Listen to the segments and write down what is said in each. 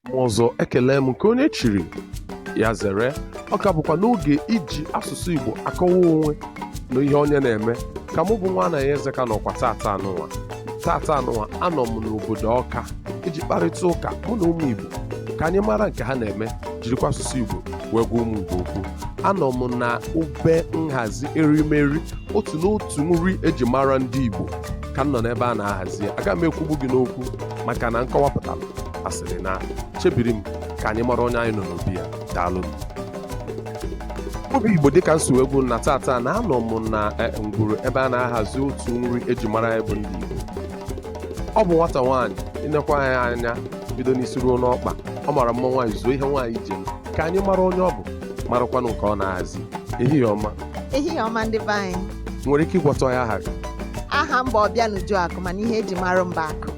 ma ọzọ ekelee m nke onye chiri ya zere ọ ka bụkwa n'oge iji asụsụ igbo akọwa onwe na ihe onye na-eme ka mụ bụ nwa anayọ eze ka nọkwa tata anụnwa tata anụnwa anọ m n'obodo ọka iji kparịta ụka mụ na ụmụ igbo ka anyị mara nke ha na-eme jirikwa asụsụ igbo wee gwa ụmụ igbo okwu anọ m na ebe nhazi erimeri otu n'otu nri eji mara ndị igbo ka m nọ n'ebe a na-ahazi ya aga m ekwugbu gị n'okwu maka na nkọwapụtara asịrị na chebiri m ka anyị mara onye anyị nọ n'obi ya daalụnụ obi igbo dịka m si wee gwa unu na tata na anọ m na eh, ngwuru ebe a na-ahazi otu nri eji mara anyị bụ ndị igbo ọ bụ nwata nwaanyị i nekwa ya anya bido n'isi ruo n'ọkpa ọ mara mma nwaanyị zuo ihe nwaanyị ji eme ka anyị mara onye ọ bụ marakwanụ nke ọ na-ahazi ehihie ọma ehihie ọma ndị be anyị nwere ike ịgwatụ anyị aha gị aha m bụ ọbịanuju akụ mana ihe eji mara m bụ akụ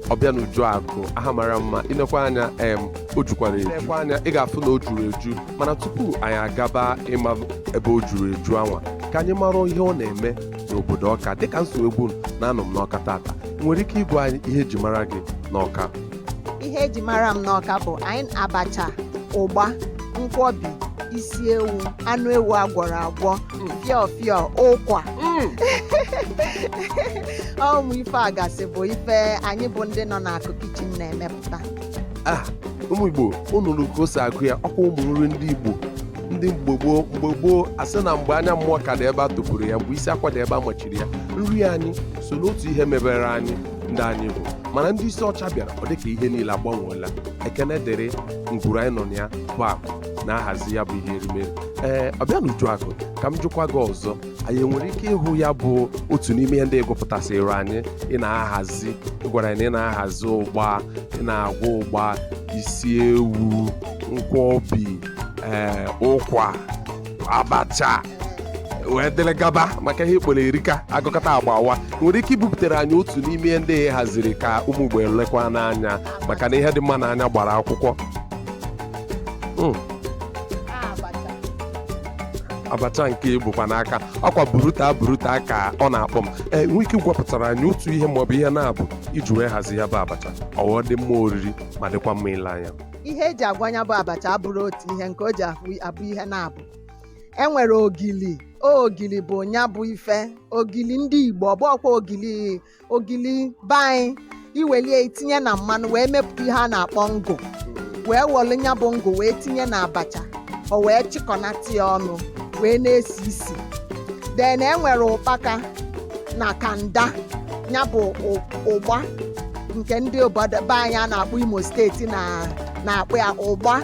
ọbịanuju akụ aha mara mma i nekwa anya em o jukwara eju i nekwa anya ị ga-afụ na o juru eju mana tupu anyị agaba ịma ebe o juru eju anwa ka anyị mara ihe ọ na-eme n'obodo ọka dịka m si wee gwa unu na anọ m n'ọka tata nwere ike ịgwa anyị ihe eji mara gị n'ọka ihe eji mara m n'ọka bụ anyị abacha ụgba nkwọbi isi ewu anụ ewu agwọrọ agwọ fịọ fịọ ụkwa ụmụ ife a gasị bụ ife anyị bụ ndị nọ n'akụ kitchen na-emepụta a ụmụ igbo unu nụrụ ka o si agụ ya ọkwa ụmụ nri ndị igbo ndị mgbe gboo mgbe gboo a sị na mgbe anya mmụọ ka dị ebe a tụpụrụ ya mgbe isi akwa dị ebe a machiri ya nri anyị so n'otu ihe mebere anyị ndị anyị bụ mana ndị isi ọcha bịara ọ dịka ihe niile agbanweela ekene dịrị ngwuru anyị nọ na ya bụ akụ na-ahazi ya bụ ihe erimeri ee ọbịanuju akụ ka m jụkwa gị ọzọ anyị nwere ike ịhụ ya bụ otu n'ime ihe ndị ị gụpụtasịrị anyị ị na-ahazi ị gwara anyị na ị na-ahazi ụgba ị na-agwa ụgba isi ewu nkwọbi ee ụkwa abacha wee dịrị gaba maka ihe ị kpọrọ erika a gụkọta agba awaa nwere ike ibupụtara anyị otu n'ime ihe ndị ị haziri ka ụmụ igbo lekwanụ anya maka na ihe dị mma n'anya gbara akwụkwọ Hmm. abacha nke i bukwa n'aka ọkwa buruta buruta ka ọ na-akpọ m ee eh, nwere ike ịkọwapụtara anyị otu ihe maọbụ ihe naabọ i ji wee hazi ya bụ abacha o wee dị mma oriri ma dịkwa mma ile anya ihe eji agwa nya bụ abacha abụrọ otu ihe nke o ji abụ ihe naabọ e nwere ogili ogili bụ nya bụ ife ogili ndị igbo ọ bụrọkwa ogili ogili be anyị i welie i tinye na mmanụ wee mepụta ihe a na-akpọ ngụ wee welu ya bụ ngụ wee tinye na abacha o wee chịkọnata ya ọnụ wee na-esi isi then e nwere ụkpaka na kanda ya bụ ụ- ụgba nke ndị obodo be anyị a na-akpọ imo steeti na na-akpọ ya ụgba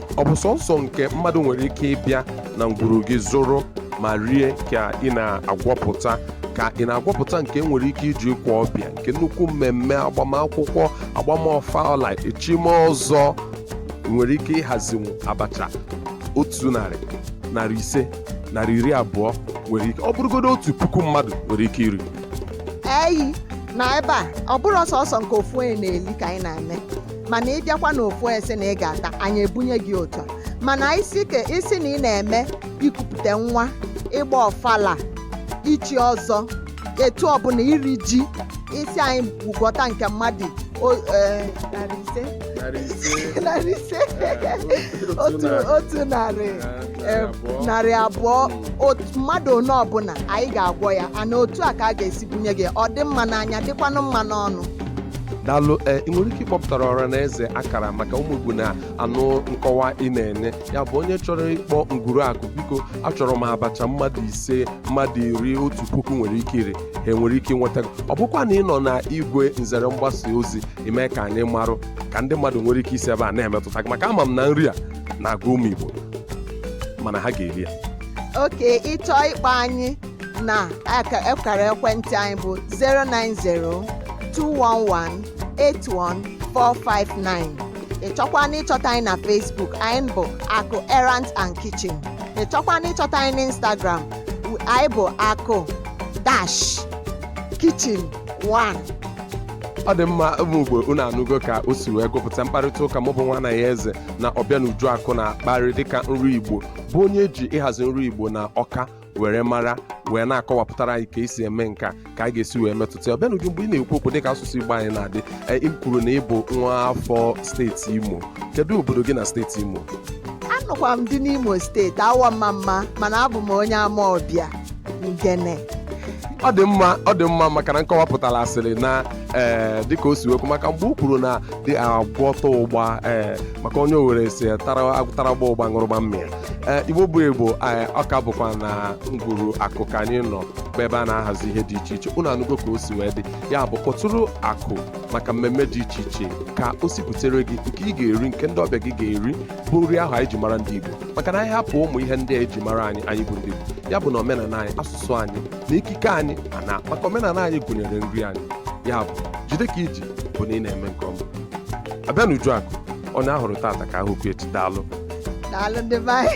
ọ bụ sọnsọ nke mmadụ nwere ike ịbịa na ngwuru gị zụrụ ma rie ka ị na-agwọpụta ka ị na-agwọpụta nke e nwere ike iji kwa ọbịa nke nnukwu mmemme agbamakwụkwọ agbam ọfala echim ọzọ nwere ike ịhazinwu abacha otu narị narị ise narị iri abụọ nwere ike ọ bụrụgodo otu puku mmadụ nwere ike iri eyi na ebe a ọ bụrọ sọnsọ nke ofu onye na-eli ka anyị na-eme mana ị bịakwa n'ofu sị na ị ga-ata anyị ebunye gị otu a mana ị sị ka ị sị na ị na-eme ikupụta nwa ịgba ọfala ichi ọzọ etu ọbụla iri ji ị sị anyị gwọta nke mmadụ o- eh, narị ise narị ise narị ise eh, otu otu narị eh, narị abụọ otu mmadụ one ọbụla anyị ga-agwọ ya ana otu a ka a ga-esi bunye gị ọ dị mma n'anya dịkwanụ mma n'ọnụ daalụ ee ị nwere ike ịkpọpụtara ọra na eze akara maka ụmụ igbo na-anụ nkọwa ị na-enye ya bụ onye chọrọ ịkpọ ngwuru akụ biko achọrọ m abacha mmadụ ise mmadụ iri otu puku nwere ike iri ha nwere ike inweta gị. ọ bụkwa na ị nọ na igwe nzere mgbasa ozi i mee ka anyị marụ ka ndị mmadụ nwere ike isi ebe a na-emetụta gị maka ama m na nri a na-agụ ụmụ igbo mana ha ga-eri ya okay ị chọọ ịkpọ anyị na akara ekwentị anyị bụ 090-211-81459 ị chọkwa na ịchọta anyị na Facebook anyị bụ akụ errand and kitchen ị chọọkwanụ ịchọta anyị na Instagram anyị bụ akụ dash kitchen 1 ọ dị mma ụmụ Igbo unu anụgo ka o si wee gụpụta mkparịta ụka mụ bụ nwa nna ya eze na Ọbịanuju akụ na-akparị dịka nri Igbo bụ onye e ji ịhazi nri Igbo na Ọka were mara wee na-akọwapụtara anyị ka e si eme nke a ka a ga-esi wee metụta ya Ọbịanuju mgbe ị na-ekwu okwu dịka asụsụ Igbo anyị na-adị em, i kwuru na ị bụ nwa afọ steeti Imo kedu obodo gị na steeti Imo anụkwa m di n'Imo steeti Awọ Ọmamma mana abụ m onye Amaọbịa Ngene ọ dị mma ọ dị mma maka na nkọwapụtara a sịrị na ee dịka o si wee kwuo maka mgbe o kwuru na dị agwọta ụgba ee maka onye Owere sị tara agụ tara ụgba ụgba ṅụrụgba mmiri ee igbo bụ igbo ee, ọ ka bụkwa na ngwuru akụ ka anyị nọ bụ ebe a na-ahazi ihe dị iche iche unu anụgo ka o si wee dị ya bụ kpọtụrụ akụ maka mmemme dị iche iche ka o si butere gị nke ị ga-eri nke ndị ọbịa gị ga-eri bụ nri ahụ anyị ji mara ndị igbo maka na anyị hapụ ụmụ ihe ndị a e ji mara anyị anyị bụ ndị igbo ya bụ na omenala anyị asụsụ anyị na ekike anyị mana maka omenala anyị gụnyere nri anyị ya bụ jide ka i ji bụ na ị na-eme nke ọma ọbịanujuakụ onye a hụrụ tata ka a hụkwu echi daalụ daalụ ndị be anyị